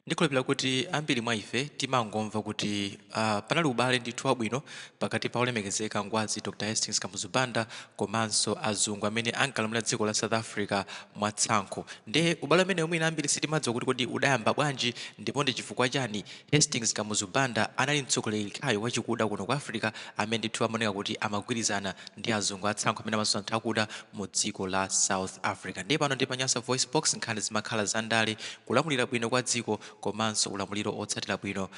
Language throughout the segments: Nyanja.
Ndikhulupirira kuti ambiri mwa ife timangomva kuti, aah, panali ubale ndithu wabwino pakati pa Olemekezeka Ngwazi Dr Hastings Kamuzu Banda komanso azungu amene ankalamulira dziko la South Africa mwa tsankho. Nde ubale umenewu mwina ambiri sitimadziwa kuti kodi udayamba bwanji ndipo ndi chifukwa chani Hastings Kamuzu Banda anali mtsogoleri yekhayo wachikuda kuno ku Africa amene ndithu amaoneka kuti amagwirizana ndi azungu a tsankho amene amazunza anthu akuda mu dziko la South Africa. Ndiye pano ndi pa Nyasa VoiceBox, nkhani zimakhala za ndale kulamulira bwino kwa dziko komanso ulamuliro otsatira bwino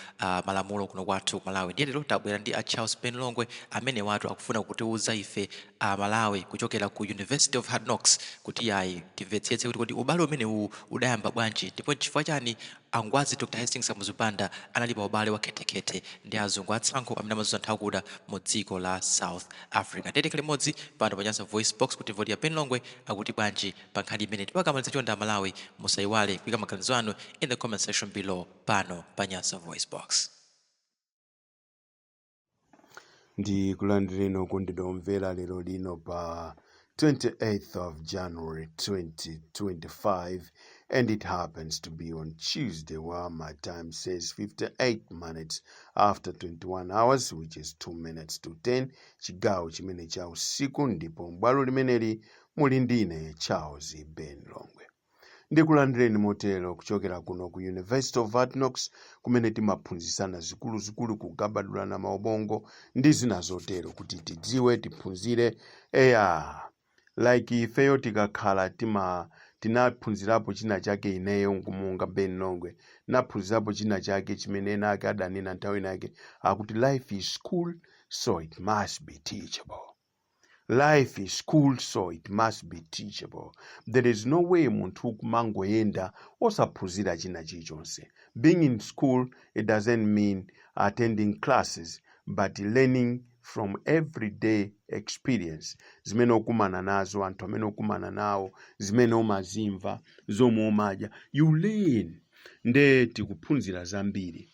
malamulo kuno kwathu ku Malawi ndiye lero tabwera ndi a Charles Ben Longwe amenewatu akufuna kutiuza ife a Malawi kuchokera ku University of Hard Knocks kuti yayi timvetsetse kuti kodi ubale umenewuwu udayamba bwanji ndipo nchifukwa chani a Ngwazi Dr Hastings Kamuzu Banda anali pa ubale wa khethekhethe ndi azungu atsankho amene amazunza anthu akuda mu dziko la South Africa ndiye tikhale limodzi pano pa Nyasa VoiceBox kuti timve kuti a Ben Longwe akuti bwanji pa nkhani imeneyi tikamaliza chonde amalawi musaiwale kuika maganizo anu in the comment section below pano pa nyasa voice box ndikulandireni okondedwa omvera lero lino pa 28th of january 2025 and it happens to be on tuesday while my time says 58 minutes after 21 hours which is 2 minutes to 10 chigawo chimene cha usiku ndipo m'bwalo limeneli Muli ndine Charles Ben Longwe. Ndikulandireni motero kuchokera kuno ku University of Hard Knocks kumene timaphunzisana zikuluzikulu kugabadulana maubongo ndi zina zotero kuti tidziwe tiphunzire eya like ifeyo tikakhala tima tinaphunzirapo china chake ineyo monga Ben Longwe naphunzirapo china chake chimene ena ake adanena nthawi inake akuti life is school so it must be teachable life is school so it must be teachable there is no way munthu kumangoyenda osaphunzira china chilichonse being in school it doesn't mean attending classes but learning from everyday experience zimene ukumana nazo anthu amene ukumana nawo zimene umazimva zomwe umadya you learn nde tikuphunzira zambiri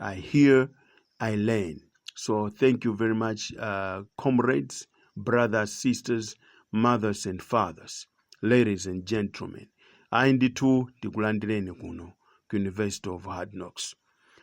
I hear, I learn. So thank you very much, uh, comrades, brothers, sisters, mothers and fathers, ladies and gentlemen. Ayi ndithu ndikulandireni kuno ku University of Hard Knocks.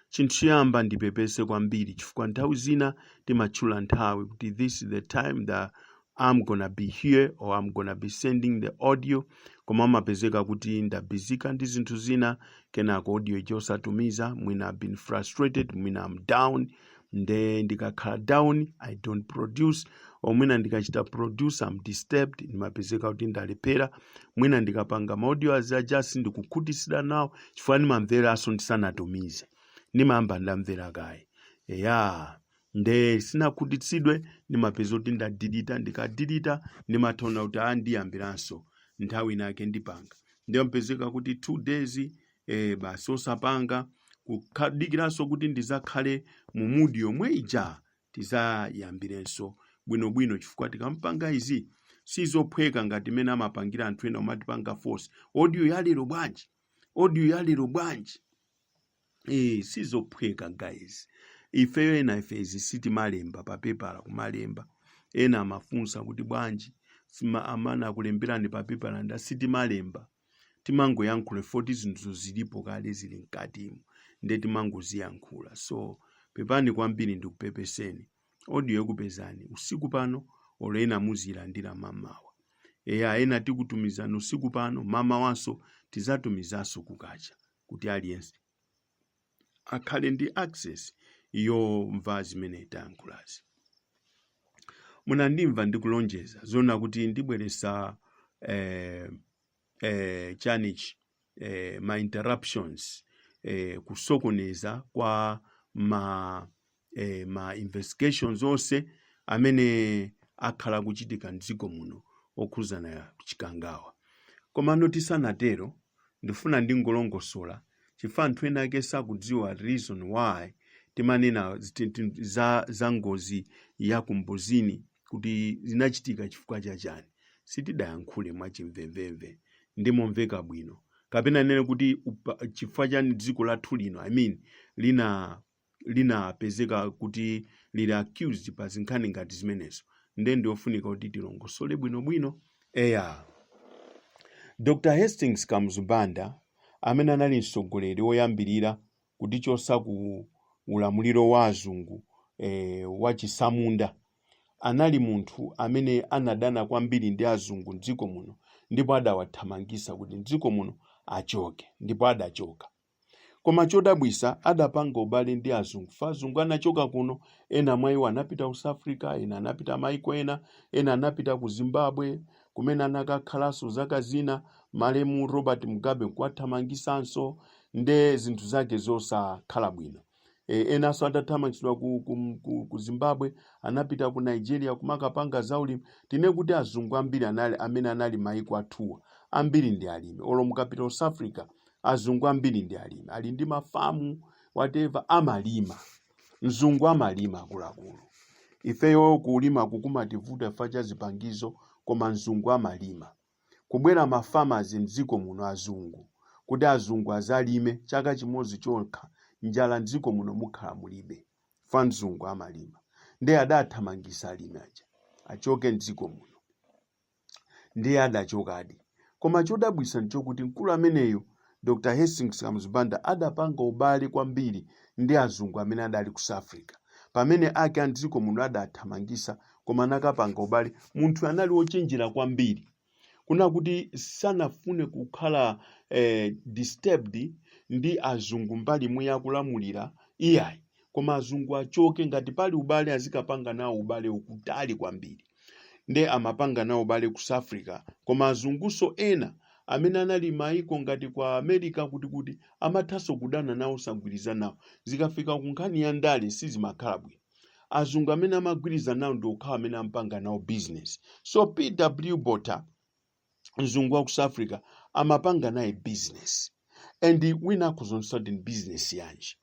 Chinthu choyamba ndipepese kwambiri chifukwa nthawi zina timatchula nthawi kuti this is the time that I'm gonna be here or I'm gonna be sending the audio koma amapezeka kuti ndabizika ndi zinthu zina kenako audio ija osatumiza mwina I've been frustrated mwina I'm down nde ndikakhala down I don't produce or mwina ndikachita produce I'm disturbed ndimapezeka kuti ndalephera mwina ndikapanga maaudio aja sindikukhutisidwa nawo chifukwa ndimamveranso ndisanatumize ndimayamba ndamvera kaye eya nde sinakhutitsidwe ndimapezeka kuti ndadilita ndikadilita ndimatha ona kuti a ndiyambiranso nthawi inake ndipanga nde yapezeka kuti 2 days eh, basi osapanga kukadikiranso kuti ndizakhale mu mood yomwe ija tizayambirenso bwinobwino chifukwa tikamapanga izi sizophweka ngati mmene amapangira anthu ena omatipanga force audio yalero bwanji audio yalero bwanji Eh, sizophweka guys ifeyo ena ife izi sitimalemba pa pepala kumalemba ena amafunsa kuti bwanji sima- amana akulemberani pa pepala ndati sitimalemba timangoyankhula poti zinthu zilipo kale zili mkatimu nde timangoziyankhula so pepani kwambiri ndikupepeseni audio yokupezani usiku pano olo ena muziyilandira mamawa eya ena tikutumizani usiku pano mamawanso tizatumizanso kukacha kuti aliyense akhale ndi access yomva zimene tayankhulazi munandimva ndikulonjeza zona kuti ndibweresa eh, eh, chanichi eh, ma interruptions eh, kusokoneza kwa ma eh, ma investigations onse amene akhala akuchitika mdziko muno okhuzana chikangawa komano tisanatero ndifuna ndingolongosola chifukwa anthu ena ake sakudziwa reason why timanena ziti- ti- za, za ngozi ya Kambuzini kuti zinachitika chifukwa cha chani sitidayankhule mwachimvemvemve ndi momveka bwino kapena ndinene kuti upa- chifukwa chani dziko lathu lino i mean lina linapezeka kuti lili accused pa zinkhani ngati zimenezo nde ndiyofunika kuti tilongosole bwinobwino eya dr hastings kamuzu banda amene anali mtsogoleri woyambirira kutichotsa ku ulamuliro wa azungu eh, wachisamunda anali munthu amene anadana kwambiri ndi azungu mdziko muno ndipo adawathamangisa kuti mdziko muno achoke ndipo adachoka Koma chodabwisa adapanga ubale ndi azungu fa azungu anachoka kuno ena mwa iwo anapita ku South Africa ena anapita maiko ena ena anapita ku Zimbabwe kumene anakakhalanso zaka zina malemu Robert Mugabe nkuwathamangisanso nde zinthu zake zosakhala bwino e, enanso atathamangitsidwa ku, ku, ku, ku zimbabwe anapita ku nigeria kumakapanga zaulimi tinene kuti azungu ambiri anali, amene anali m'maiko athuwa ambiri ndi alimi olo mukapita south africa azungu ambiri ndi alimi ali ndi mafamu whatever amalima mzungu amalima akuluakulu ifeyo kulima kukumativuta chifukwa cha zipangizo koma mzungu amalima kubwera ma farmers mdziko muno azungu kuti azungu azalime chaka chimodzi chokha njala mdziko muno mukhala mulibe chifukwa mzungu amalima ndiye adathamangisa alimi aja achoke mdziko muno ndiye adachokadi koma chodabwisa nchokuti mkulu ameneyo Dr. Hastings Kamuzu Banda adapanga ubale kwambiri ndi azungu amene adali ku South Africa. Pamene ake a m'dziko muno adathamangisa koma anakapanga ubale, munthu anali wochenjera kwambiri kunena kuti sanafune kukhala eh, disturbed ndi azungu mbali imwe ya kulamulira iyayi koma azungu achoke ngati pali ubale azikapanga nawo ubale ukutali kwambiri nde amapanga nawo ubale ku South Africa koma azunguso ena amene anali m'maiko ngati kwa America kuti kuti amathaso kudana nawo osagwirizana nawo zikafika ku nkhani ya ndale sizimakhala bwino azungu amene amagwirizana nawo ndi okhawo amene amapanga nawo business so PW Botha mzungu wa ku South Africa amapanga naye business and winako zonse ndi business yanji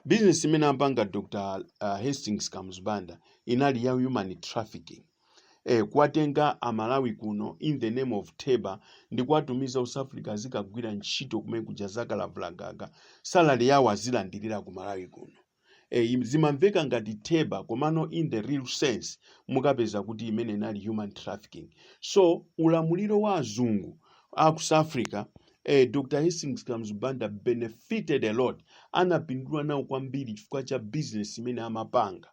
bizinesi imene amapanga dr uh, hastings kamuzu banda inali ya human trafficking eh, kuwatenga amalawi kuno in the name of teba ndi kuwatumiza ku south africa azikagwira ntchito kumene kuja zakalavulagaga salary yawo azilandirira ku malawi kuno eh, im- zimamveka ngati teba komano in the real sense mukapeza kuti imene inali human trafficking so ulamuliro wa azungu a ku south africa eh, dr hastings kamuzu banda benefited a lot anapindula nawo kwambiri chifukwa cha business imene amapanga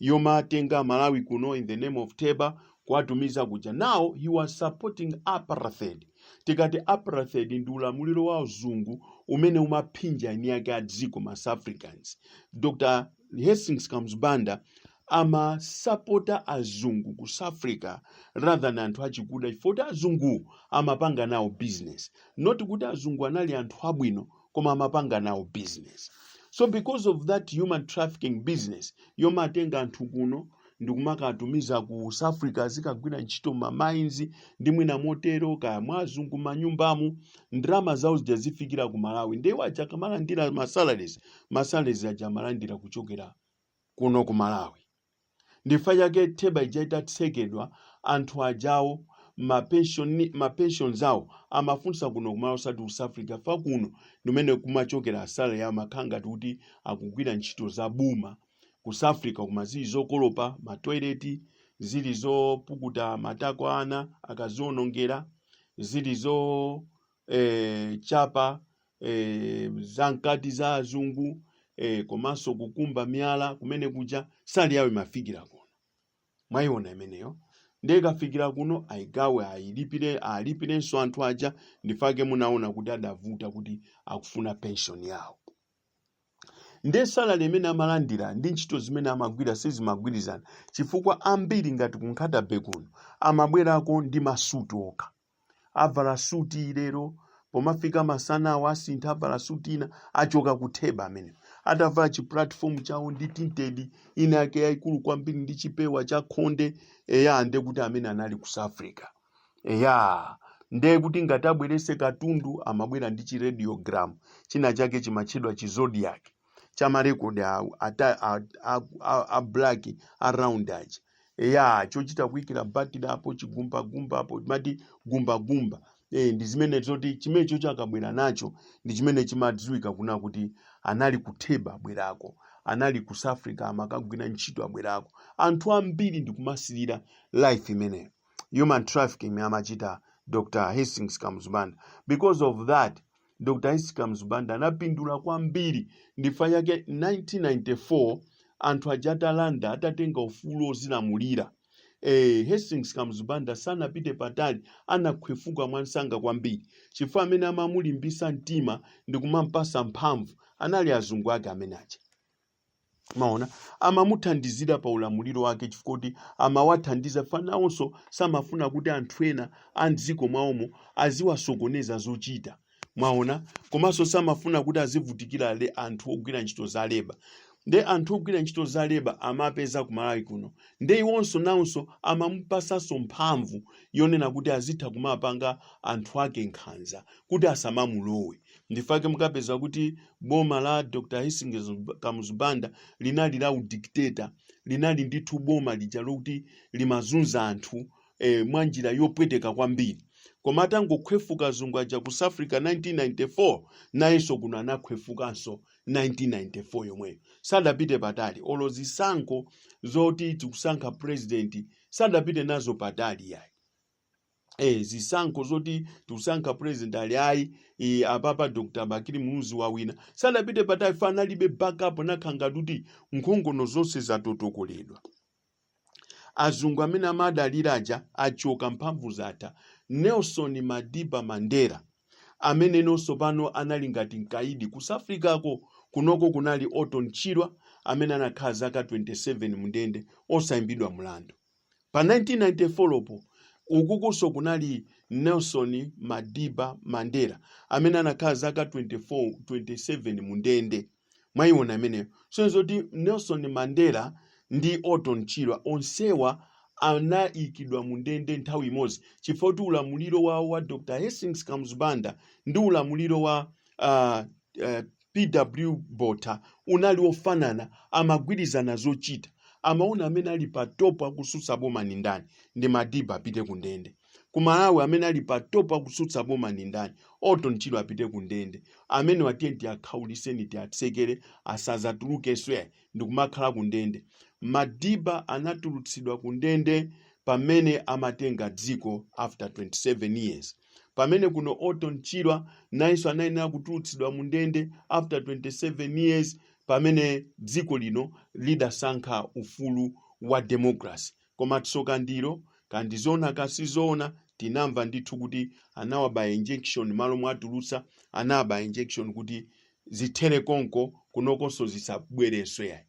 yomawatenga amalawi kuno in the name of teba kuwatumiza kuja now he was supporting apartheid tikati apartheid ndi ulamuliro wa uzungu umene umaphinja eni ake a dziko ma south africans dr hastings kamuzu banda amasapota azungu ku south africa rather than anthu achikuda chifukwa choti azungu amapanga nawo business not kuti azungu anali anthu abwino koma amapanga nawo business so because of that human trafficking business yomawatenga anthu kuno ndikumakawatumiza ku south africa azikagwira ntchito mamainzi ndi mwina motero kaya mwa azungu manyumbamu ndalama zawo zija zizifikira ku malawi nde awo aja akamalandira masalaries masalaries aja amalandira kuchokera kuno ku Malawi. Ndichifukwa chake theba ija itatsekedwa anthu ajawo ma pension ma pensions awo amafunsa kuno ku Malawi osati ku South Africa chifukwa kuno ndimene kumachokera salary yawo amakhala ngati kuti akugwira ntchito za boma ku South Africa koma zili zokolopa ma toilet zili zopukuta matako a ana akazionongera zili zo eh, chapa eh, zankati za azungu eh, komanso kukumba miyala kumene kuja salary yawo imafikira kuno mwayiona imeneyo ndiye ikafikira kuno ayigawe ayilipire alipirenso anthu aja ndifake munaona kuti adavuta kuti akufuna pension yawo ndiye salary imene amalandira ndi ntchito zimene amagwira sizimagwirizana chifukwa ambiri ngati ku Nkhata Bay kuno amabwerako ndi masuti okha avala suti lero pomafika masana awo asintha avala suti ina achoka ku theba amene atavala chi platform chawo ndi tinted ina yake yaikulu kwambiri ndi chipewa cha khonde eya nde kuti amene anali ku South Africa eya nde kuti ngati abwerese katundu amabwera ndi chi radiogram china chake chimatchedwa chi zodiac cha marekodi awo ata- a a- a- a black a round aja ya chochita kuikira batiri apo chigumbagumba apo timati gumbagumba eh, ndi zimene zoti chimenecho chakabwera nacho ndi chimene chimadziwika kunena kuti anali ku theba abwerako anali ku south africa amakagwira ntchito abwerako anthu ambiri ndikumasirira life imeneyo human trafficking amachita dr hastings kamuzu banda because of that Dr. Hastings Kamuzu Banda anapindula kwambiri ndifa chake 1994 anthu aja atalanda atatenga ufulu ozilamulira eh, Hastings Kamuzu Banda sanapite patali anakhwefuka mwansanga kwambiri chifukwa amene amamulimbisa mtima ndi kumampasa mphamvu anali azungu ake amene aja mwaona amamuthandizira pa ulamuliro wake chifukwa kuti amawathandiza fa nawonso samafuna kuti anthu ena a mdziko mwawomo aziwasokoneza zochita mwaona komanso samafuna kuti azivutikira le anthu ogwira ntchito za leba nde anthu ogwira ntchito za leba amapeza ku malawi kuno nde iwonso nawonso amamupasanso mphamvu yonena kuti azitha kumapanga anthu ake nkhanza kuti asamamulowe ndifake mukapeza kuti boma la dr hastings kamuzu banda linali la udikiteta linali ndithu boma lija lokuti limazunza anthu eh, mwa njira yopweteka kwambiri koma atangokhwefuka azungu aja ku south africa 1994 nayenso kuno anakhwefukanso 1994 yomweyo sadapite patali olo zisankho zoti tikusankha president sadapite nazo patali yayi eh zisankho zoti tikusankha president aliyayi eh, apapa dr bakili muluzi wawina sadapite patali chifukwa analibe backup nakhala ngati kuti nkhongono zonse zatotokoledwa azungu amene amadalira aja achoka mphamvu zatha nelson madiba mandela amene nonso pano anali ngati mkaidi ku south africa kunoko kunali orton chirwa amene anakhala zaka 27 mundende osayimbidwa mlandu Pa 1994-lo po, ukukunso kunali Nelson Madiba Mandela, amene anakhala zaka 24, 27 mu ndende. Mwaiona imeneyo. Sonyezo kuti Nelson Mandela ndi Orton Chirwa onsewa anaikidwa mu ndende nthawi imodzi chifukwa choti ulamuliro wawo wa Dr. Hastings Kamuzu Banda ndi ulamuliro wa uh, uh, pw botha unali ofanana amagwirizana zochita amaona amene ali pa top akusutsa boma ni ndani ndi madiba apite ku ndende ku malawi amene ali pa top akusutsa boma ni ndani orton chirwa apite ku ndende amene awa tiyeni tiakhauliseni tiatsekere asazatulukenso ayi ndikumakhala ku ndende madiba anatulutsidwa ku ndende pamene amatenga dziko after 27 years Pamene kuno Orton Chirwa nayenso anayenera kutulutsidwa mu ndende after 27 years pamene dziko lino lidasankha ufulu wa democracy. Koma tsoka ndilo kaya ndi zoona kaya si zoona tinamva ndithu kuti anawabaya injection malo mowatulutsa anawabaya injection kuti zithere konko kunokonso zisazabwerenso yayi.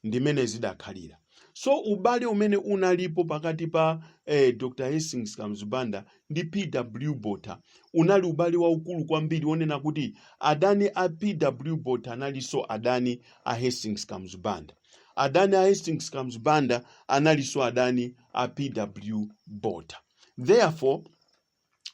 ndimene zidakhalira so ubale umene unalipo pakati pa eh, dr hastings kamuzu banda ndi pw botha unali ubale waukulu kwambiri wonena kuti adani a pw botha analinso adani a hastings kamuzu banda adani a hastings kamuzu banda analinso adani a pw botha therefore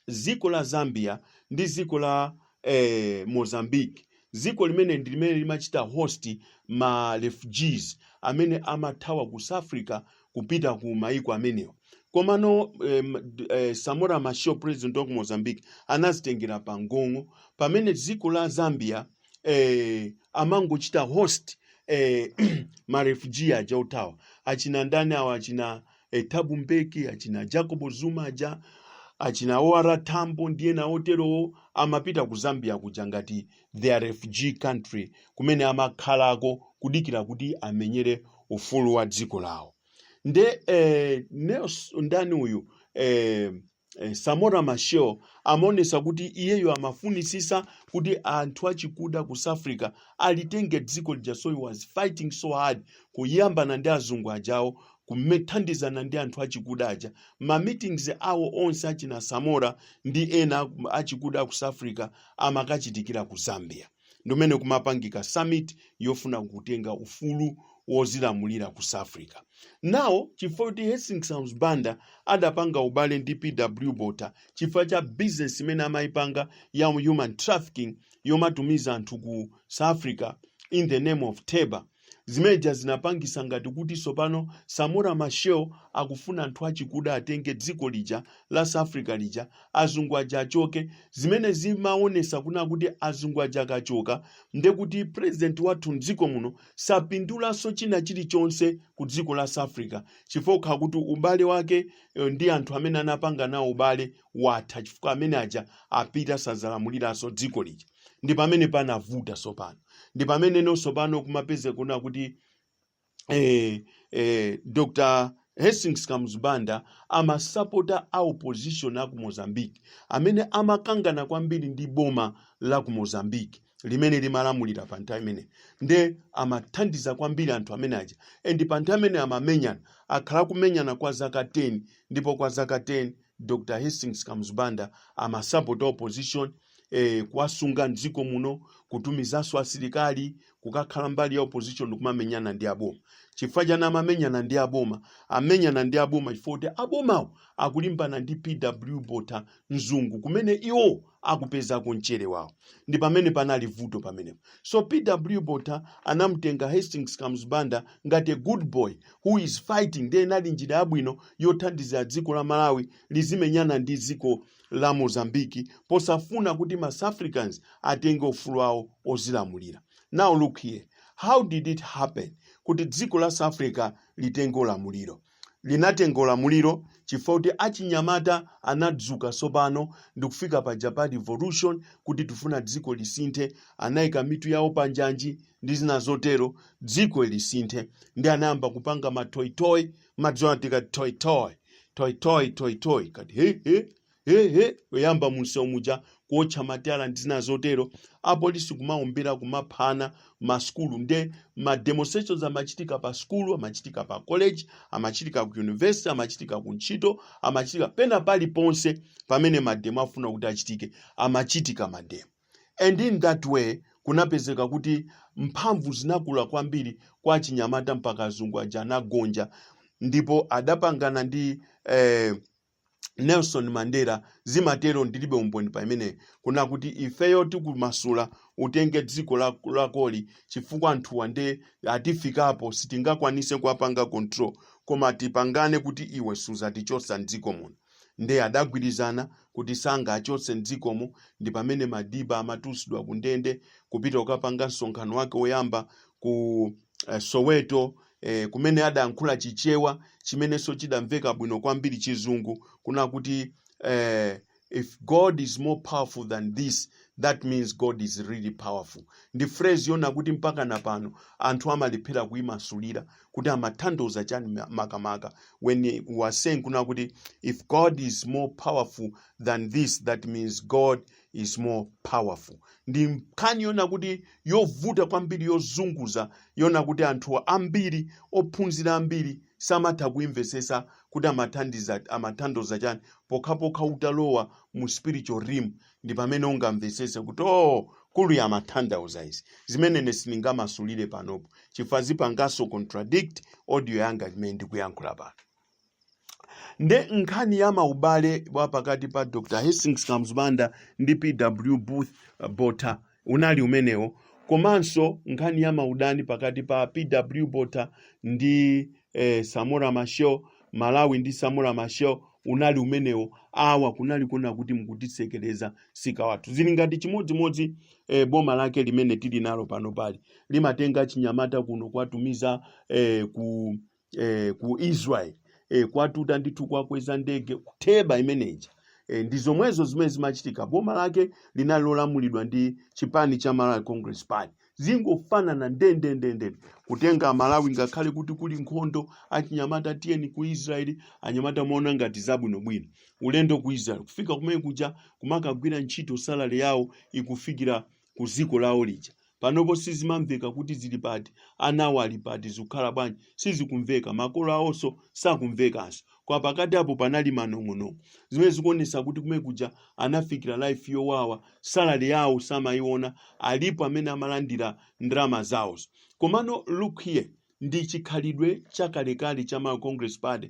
ziko la Zambia ndi ziko la eh, Mozambique ziko limene ndi limene limachita host ma refugees amene amathawa ku South Africa kupita ku maiko amenewa komano eh, m- d- eh, Samora Machel president wa ku Mozambique anazitengera pa mgong'o pamene ziko la Zambia eh, amangochita host eh, ma refugee aja othawa achina ndani awa achina e, Thabo Mbeki achina Jacob Zuma aja achina OR Tambo ndi ena oterowo amapita ku Zambia kuja ngati their refugee country kumene amakhalako kudikira kuti amenyere ufulu wa dziko lawo nde eh, Nels ndani uyu eh, Eh, Samora Machel amaonesa kuti iyeyo amafunitsitsa kuti anthu achikuda ku South Africa alitenge dziko lija so he was fighting so hard kuyambana ndi azungu ajawo kumethandizana ndi anthu achikuda aja ma meetings awo onse achina Samora ndi ena aku- achikuda ku South Africa amakachitikira ku Zambia ndi mmene kumapangika summit yofuna kutenga ufulu wozilamulira ku south africa now chifukwa kuti hastings banda adapanga ubale ndi pw botha chifukwa cha business imene amayipanga ya human trafficking yomatumiza anthu ku south africa in the name of teba Zimeja zinapangisa ngati kuti sopano Samora Machel akufuna anthu achikuda atenge dziko lija la South Africa lija azungu aja achoke zimene zimaonetsa kunena kuti azungu aja akachoka nde kuti president wathu mdziko muno sapindulaso china chilichonse ku dziko la South Africa chifukwa kuti ubale wake eh, ndi anthu amene anapanga nawo ubale watha chifukwa amene aja apita sazalamulilaso dziko lija ndi pamene panavuta tsopano ndi pamene no tsopano kumapezeka kunena kuti eh, eh, dr hastings kamuzu banda amasapota a opposition aku mozambique amene amakangana kwambiri ndi boma la ku mozambique limene limalamulira pa nthawi imene nde amathandiza kwambiri anthu amene aja and pa nthawi imene amamenyana akhala kumenyana kwa zaka 10 ndipo kwa zaka 10 dr hastings kamuzu banda amasapota opposition eh, kuwasunga mdziko muno kutumizanso asilikali kukakhala mbali ya opposition kumamenyana ndi aboma chifukwa chani amamenyana ndi aboma amenyana ndi aboma chifukwa kuti abomawo akulimbana ndi pw botha mzungu kumene iwo akupezako mchere wawo ndi pamene panali vuto pamenepo so pw botha anamtenga hastings kamuzu banda ngati a good boy who is fighting ndiye inali njira yabwino yothandizira dziko la malawi lizimenyana ndi dziko la mozambique posafuna kuti ma south africans atenge ufulu wawo ozilamulira now look here how did it happen kuti dziko la south africa litenge ulamuliro linatenga ulamuliro chifukwa kuti achinyamata anadzuka sopano ndikufika paja pa revolution kuti tifuna dziko lisinthe anayika mitu yawo panjanji ndi zina zotero dziko lisinthe ndi anayamba kupanga matoyitoyi mumadziwa tikati toyitoyi toyitoyi toyitoyi kati he he he he ayamba munsewu muja kuotcha matayala ndi zina zotero apolisi kumaombera kumaphana masukulu nde ma demonstrations amachitika pa sukulu amachitika pa college amachitika ku university amachitika ku ntchito amachitika pena paliponse pamene mademo afuna kuti achitike amachitika mademo and in that way kunapezeka kuti mphamvu zinakula kwambiri kwa achinyamata mpaka azungu aja anagonja ndipo adapangana ndi eh, Nelson Mandela zimatero ndilibe umboni pa imene kuna kuti ifeyo tikumasula utenge dziko la- lakoli chifukwa anthuwa nde atifikapo sitingakwanise kuwapanga control koma tipangane kuti iwe suzatichotsa mdziko muno nde adagwirizana kuti sangaachotse mdzikomo ndi pamene Madiba amatulutsidwa ku ndende kupita kukapanga msonkhano wake woyamba ku eh, Soweto eh, kumene adankhula Chichewa chimenenso chidamveka bwino kwambiri chizungu kuna kuti eh, if God is more powerful than this that means God is really powerful ndi phrase yona kuti mpaka na pano anthu amalephera kuyimasulira kuti amatanthauza chani ma- makamaka when he was saying kuna kuti if God is more powerful than this that means God is more powerful ndi nkhani yona kuti yovuta kwambiri yozunguza yona kuti anthu ambiri ophunzira ambiri samatha kuimvesesa kuti amathandiza amatanthauza chani pokhapokha utalowa mu spiritual realm ndi pamene ungamvesese kuti oh kuli amatanthauza izi zimene ine sindingamasulire panopo chifukwa zipanganso contradict audio yanga imene ndikuyankhula pano nde nkhani ya maubale wa pakati pa dr hastings kamuzu banda ndi pw booth uh, botha unali umenewo komanso nkhani ya maudani pakati pa pw botha ndi eh, samora machel malawi ndi samora machel unali umenewo awa kunali kuna kuti mukutisekereza nzika zathu zili ngati chimodzimodzi eh, boma lake limene tili nalo panopali limatenga chinyamata kuno kuwatumiza eh, ku eh, ku israel eh, kuwatuta ndithu kuwakweza ndege kutheba imeneja eh, ndi zomwezo zimene zimachitika boma lake linali lolamulidwa ndi chipani cha malawi congress party zikungofanana ndendendendende kutenga malawi ngakhale kuti kuli nkhondo achinyamata tiyeni ku israeli anyamata amaona ngati zabwinobwino ulendo ku israeli kufika kumene kuja kumakagwira ntchito salary yawo ikufikira ku dziko lawo lija panopo sizimamveka kuti zili pati anawo ali pati zikukhala bwanji sizikumveka makolo awonso sakumvekanso kwa pakati apo panali manong'onong'o zimene zikuonetsa kuti kumene kuja anafikira life yowawa salary yawo samayiona alipo amene amalandira ndalama zawozo komano look here ndi chikhalidwe chakalekale cha Malawi Congress Party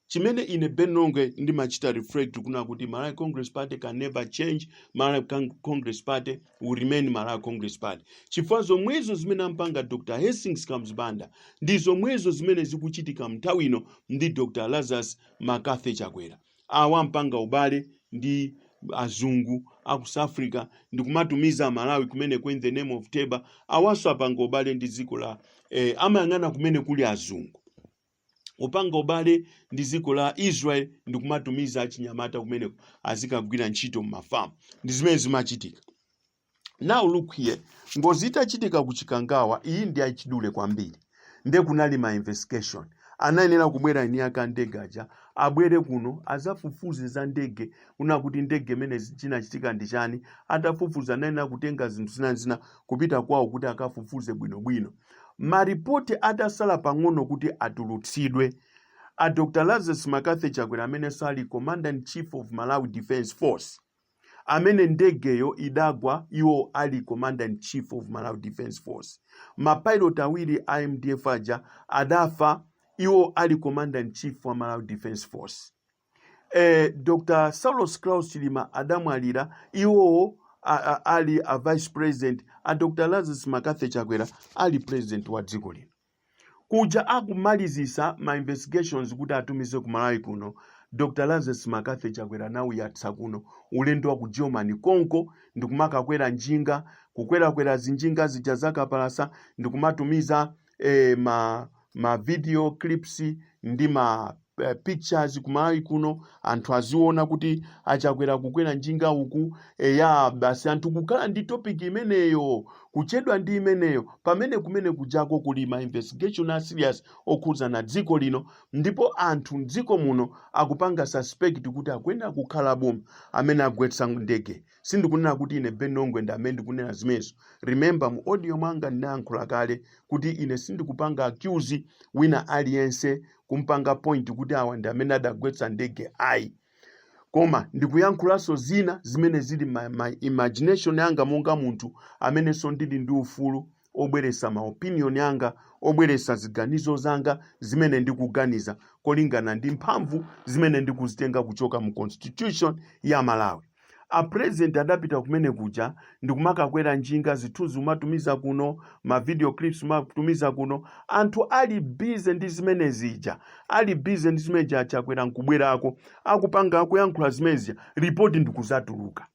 chimene ine Ben Longwe ndimachita reflect kuna kuti Malawi Congress Party can never change Malawi Con- Congress Party will remain Malawi Congress Party chifukwa zomwezo zimene amapanga Dr. Hastings Kamuzu Banda ndi zomwezo zimene zikuchitika mnthawi ino ndi Dr. Lazarus McCarthy Chakwera awa anapanga ubale ndi azungu a ku south africa ndikumatumiza amalawi kumeneko in the name of teba awaso apanga ubale ndi dziko la eh, amayang'ana kumene kuli azungu upanga ubale ndi dziko la israel ndikumatumiza achinyamata kumeneko azikagwira ntchito m'mafamu ndi zimene zimachitika now look here ngozi itachitika ku chikangawa iyi ndi yachidule kwambiri nde kunali ma investigation anayenera kubwera eni ake andege aja abwere kuno azafufuze za ndege kuona kuti ndege imene chinachitika ndi chani atafufuza anayenera kutenga zinthu zinazina kupita kwawo kuti akafufuze bwinobwino maripoti atasala pang'ono kuti atulutsidwe a dr lazarus mccarthy chakwera ameneso ali commander in chief of malawi defence force amene ndegeyo idagwa iwo ali commander in chief of malawi defence force mapilot awiri a mdf aja adafa iwo ali commander in chief wa malawi defence force eh, dr saulos klaus chilima adamwalira iwowo a- a- ali a vice president a dr lazarus mccarthy chakwera ali president wa dziko lino Kuja akumalizisa ma investigations kuti atumize ku Malawi kuno, Dr Lazarus McCarthy Chakwera anauyatsa kuno ulendo wa ku Germany konko ndikumakakwera njinga, kukwerakwera zinjinga zija za kapalasa ndikumatumiza eh, ma, ma video clips ndi ma eh, pictures kumalawi kuno anthu aziona kuti achakwera kukwera njinga uku eya basi anthu kukhala ndi topic imeneyo kuchedwa ndi imeneyo pamene kumene kujako kuli ma investigation a serious okhudzana ndi dziko lino ndipo anthu mdziko muno akupanga suspect kuti akuyenera kukhala boma amene agwetsa ndege sindikunena kuti ine ben longwe ndi amene ndikunena zimenezo remember mu audio mwanga ndinayankhula kale kuti ine sindikupanga accuse wina aliyense kumpanga point kuti awa ndi amene adagwetsa ndege ayi koma ndikuyankhulanso zina zimene zili ma, my imagination yanga monga munthu amenenso ndili ndi ufulu obweretsa ma opinion anga, obweretsa ziganizo zanga zimene ndikuganiza kolingana ndi mphamvu zimene ndikuzitenga kuchoka mu constitution ya Malawi. A president adapita kumene kuja ndikumakakwera njinga, zithunzi kumatumiza kuno, ma video clips kumatumiza kuno. Anthu ali busy ndi zimene zija, ali busy ndi zimene zija, Chakwera nkubwerako akupanga akuyankhula zimene zija, report ndikuzatuluka.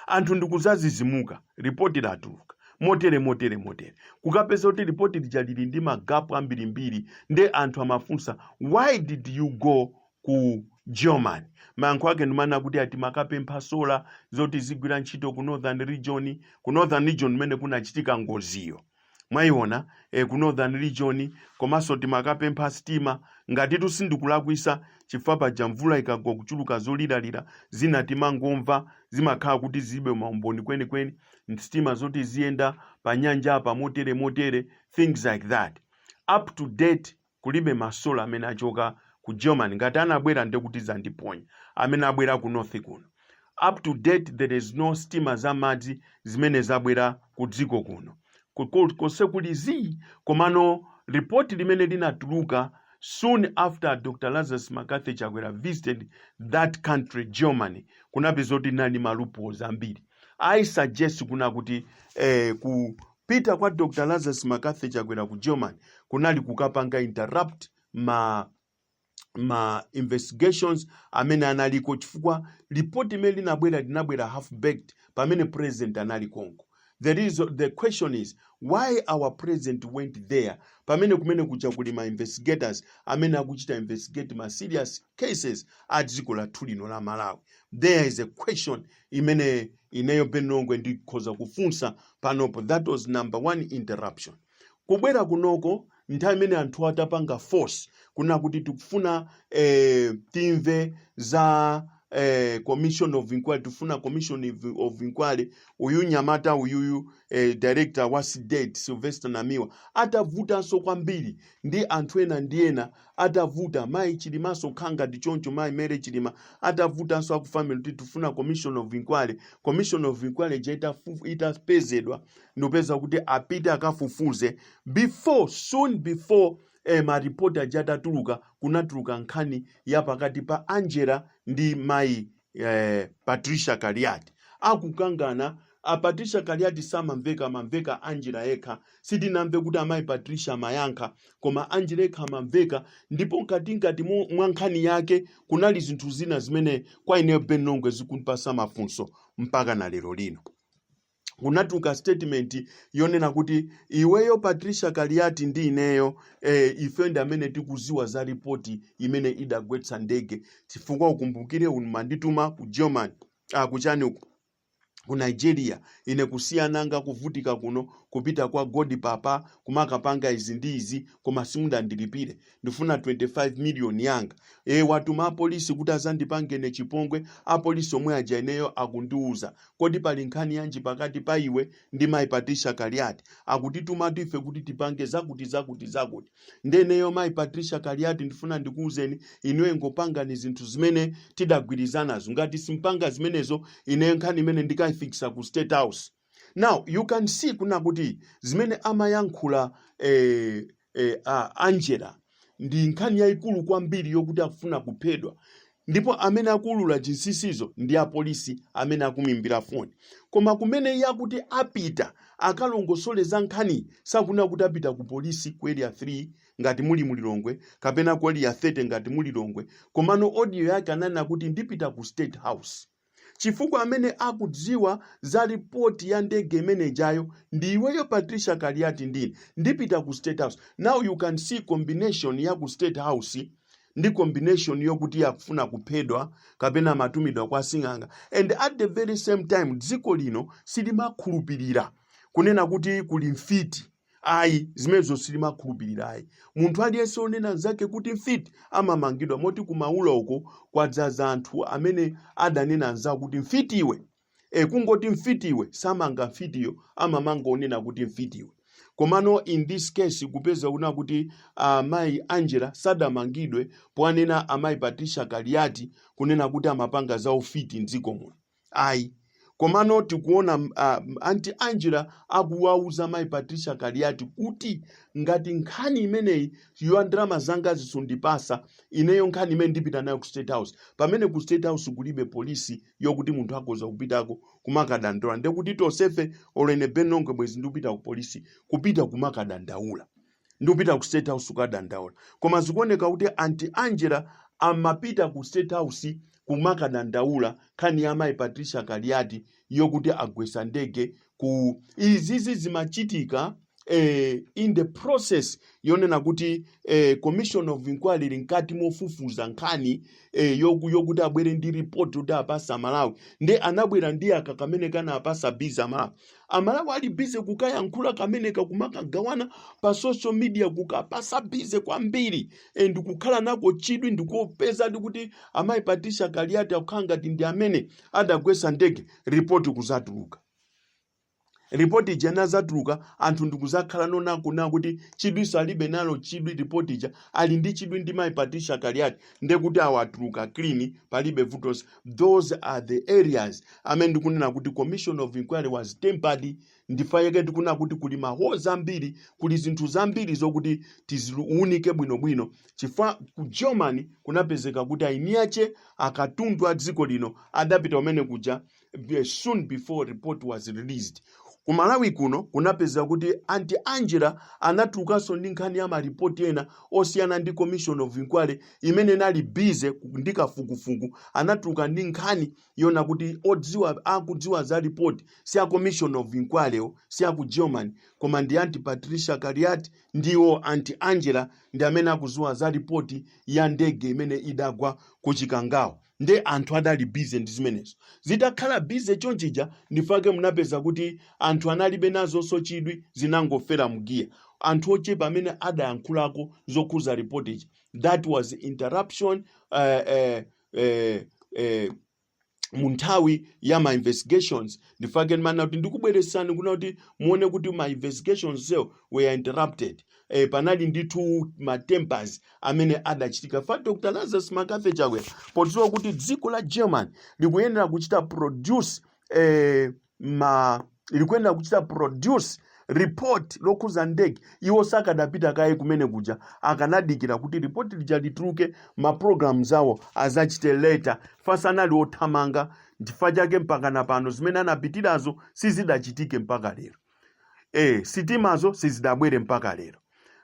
anthu ndikuzazizimuka, ripoti latuluka motere motere motere, kukapeza kuti ripoti lija lili ndi magapu ambirimbiri, nde anthu amafunsa why did you go ku Germany? Mayankho ake ndi kumanena kuti ati amakapempha solar zoti zigwira ntchito ku northern region, ku northern region kumene kunachitika ngoziyo. mwaiona e, ku northern region komanso timakapempha sitima ngatitu sindikulakwisa chifukwa paja mvula ikagwa kuchuluka zoliralira zina timangomva zimakhala kuti zilibe maumboni kwenikweni sitima zoti ziyenda pa nyanja apa motere motere things like that up to date kulibe ma solar amene achoka ku Germany ngati anabwera ndekuti zandiponya amene abwera ku north kuno up to date there is no sitima za madzi zimene zabwera ku dziko kuno Ku- ku- konse kuli zii komano report limene linatuluka soon after dr lazarus mccarthy chakwera visited that country germany kunapeza kuti linali ndi ma loopholes ambiri i suggest kuna kuti eh, ku Pita kwa Dr Lazarus Mccarthy Chakwera ku German kunali kukapanga interrupt ma ma investigations amene analiko chifukwa report limene linabwera linabwera half baked pamene president anali konko the question is why our president went there pamene kumene kuja kuli ma investigators amene akuchita investigate ma serious cases a dziko lathu lino la Malawi there is a question imene ineyo ben longwe ndikhoza kufunsa panopo that was number one interruption kubwera kunoko nthawi imene anthu atapanga force kuna kuti tikufuna eh, timve za eh, commission of inquiry tifuna commission of- of inquiry uyu nyamata uyuyu eh, director wa CDEDI sylvester namiwa atavutanso kwambiri ndi anthu ena ndi ena atavuta mayi chilimanso kukhala ngati choncho mayi mary chilima atavutanso aku family kuti tifuna commission of inquiry commission of inquiry ija itafu- itapezedwa ndikupeza kuti apite akafufuze before soon before eh, maripoti aja atatuluka kunatuluka nkhani ya pakati pa angela ndi mayi eh, patricia kaliati akukangana a patricia kaliati samamveka amamveka angela yekha sitinamve kuti amayi patricia amayankha koma angela yekha amamveka ndipo nkati nkati mu- mwa nkhani yake kunali zinthu zina zimene kwa ineyo ben longwe zikundipasa mafunso mpaka na lero lino kunatuluka statement yonena kuti iweyo Patricia Kaliati ndi ineyo eh, ife ndi amene tikuziwa za ripoti imene idagwetsa ndege chifukwa ukumbukire unumandituma ku German ah, kuchani uku ku Nigeria ine kusiya ana anga kuvutika kuno kupita kwa God papa kumakapanga izi ndi izi koma simudandilipire ndifuna 25 million yanga e watuma apolisi kuti azandipange ine chipongwe apolisi omwe aja ineyo akundiuza kodi pali nkhani yanji pakati pa iwe ndi mai patricia kaliati akutitumatu ife kuti tipange zakuti zakuti zakuti nde ineyo mai patricia kaliati ndifuna ndikuuzeni ineyo ingopangani zinthu zimene tidagwirizanazo ngati simpanga zimenezo ineyo nkhani imeneyi ndikaifikisa ku state house now you can see kunena kuti zimene amayankhula eh, eh, ah, angela ndi nkhani yayikulu kwambiri yokuti akufuna kuphedwa ndipo amene akuulula zinsinsizo ndi apolisi amene akumimbira foni koma kumene iye akuti apita akalongosole za nkhani sakunena kuti apita ku polisi ku area 3 ngati muli mu Lilongwe kapena ku area 30 ngati mu Lilongwe komano audio yake ananena kuti ndipita ku state house chifukwa amene akudziwa za report ya ndege imene ijayo ndi iweyo Patricia Kaliati ndine ndipita ku State House now you can see combination ya ku State House ndi combination yokuti yakufuna kuphedwa kapena matumidwa kwa sing'anga and at the very same time dziko lino silimakhulupirira kunena kuti kuli mfiti ayi zimenezo silimakhulupirira ayi munthu aliyense onena mnzake kuti mfiti amamangidwa moti kumaula uko kwadzaza anthu amene adanena mnzawo kuti mfiti iwe e, kungoti mfiti iwe samanga mfitiyo amamanga onena kuti mfiti iwe komano in this case kupeza kunena kuti amayi angela sadamangidwe poanena amayi patricia kaliati kunena kuti amapanga za ufiti mdziko muno ayi komano tikuona m- a- m- anti angela akuwauza mayi patricia kaliati kuti ngati nkhani imeneyi ya ndalama zanga zisundipasa ineyo nkhani imene ndipita nayo ku state house pamene ku state house kulibe polisi yokuti munthu akhoza kupitako kumakadandaula ndekuti tonsefe olo ine Ben Longwe bwezi ndikupita ku polisi kupita kumakadandaula ndikupita ku state house kukadandaula koma zikuoneka kuti anti angela amapita ku state house kumakadandaula nkhani ya mayi patricia kaliati yokuti agwesa ndege ku izizi zimachitika eh, in the process yonena kuti eh, commission of inquiry ili mkati mofufuza nkhani eh, yoku- yokuti abwere ndi report yoti apatse aMalawi nde anabwera ndi aka kamene kanawapasa bize aMalawi amalawi ali bize kukayankhula kameneka kumagawana pa social media kukawapasa bize kwambiri and kukhala nako chidwi ndikupeza kuti amayi patricia kaliati akukhala ngati ndi amene adagwesa ndege ripoti kuzatuluka ripoti ija inazatuluka anthu ndikuzakhala ndoona kunena kuti chidwi salibe nalo chidwi ripoti ija ali ndi chidwi ndi mayi patricia kaliati ndekuti awa atuluka clean palibe vutonse those are the areas amene ndikunena kuti commission of inquiry was tampered ndichifukwa chake ndikunena kuti kuli ma holes ambiri kuli zinthu zambiri zokuti tiziunike bwinobwino chifukwa ku germany kunapezeka kuti aini ake akatundu a dziko lino adapita umene kuja eh, soon before report was released Ku Malawi kuno kunapezeka kuti Auntie Angela anatulukanso ndi nkhani ya malipoti ena osiyana ndi Commission of Inquiry imene inali busy ku- ndi kafukufuku. Anatuluka ndi nkhani yona kuti odziwa akudziwa za report si a Commission of Inquiry yo, si a ku Germany, koma ndi Auntie Patricia Kaliati ndiwo Auntie Angela ndi amene akudziwa za report ya ndege imene idagwa ku Chikangawa. nde anthu adali busy ndi zimenezo zitakhala busy chonchija ndi chifukwa chake munapeza kuti anthu analibe nazonso chidwi zinangofera m'giya anthu ochepa amene adayankhulako zokhuza report ija that was interruption eh, eh, eh, eh, mu nthawi ya ma investigations ndi chifukwa chake ndimafuna kuti ndikubweretsani kuno kuti muone kuti ma investigations wo were interrupted eh, panali ndithu matempers amene adachitika chifukwa dr lazarus mccarthy chakwera podziwa kuti dziko la germany likuyenera kuchita produce eh, ma likuyenera kuchita produce report lokhuza ndege iwo sakadapita kaye kumene kuja akanadikira kuti report lija lituluke ma programs awo azachite later chifukwa sanali othamanga ndi chifukwa chake mpakana pano zimene anapitirazo sizidachitike mpaka lero eh sitimazo sizidabwere mpaka lero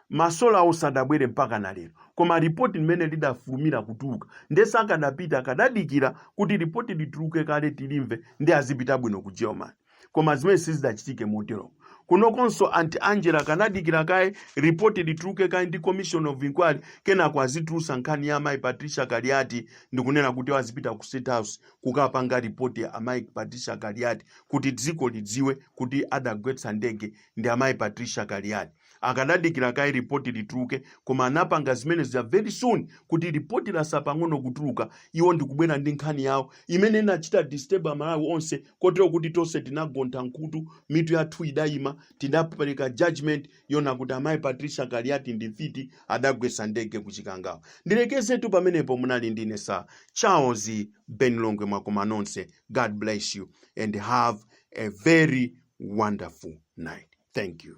masolawo sadabwere mpaka na lero koma ripoti limene lidafulumira kutuluka nde sakadapita akadadikira kuti ripoti lituluke kaye tilimve nde azipita bwino ku germany koma zimene sizidachitike motero kunokonso anti angela akanadikira kaye ripoti lituluke kaye ndi commission of inquiry kenako azitulusa nkhani ya amayi patricia kaliati ndikunena kuti azipita ku state house kukapanga ripoti amayi patricia kaliati kuti dziko lidziwe kuti adagwetsa ndege ndi amayi patricia kaliati akadadikira kaye ripoti lituluke koma anapanga zimene zija very soon kuti ripoti latsala pang'ono kutuluka iwo ndikubwera ndi nkhani yawo imene inachita disturb amalawi onse kotero kuti tonse tinagontha m'khutu mitu yathu idayima tidapereka judgment yona kuti amayi patricia kaliati ndi mfiti adagwesa ndege ku chikangawa ndilekezetu pamenepo munali ndi ine sir charles ben longwe mwakoma nonse god bless you and have a very wonderful night thank you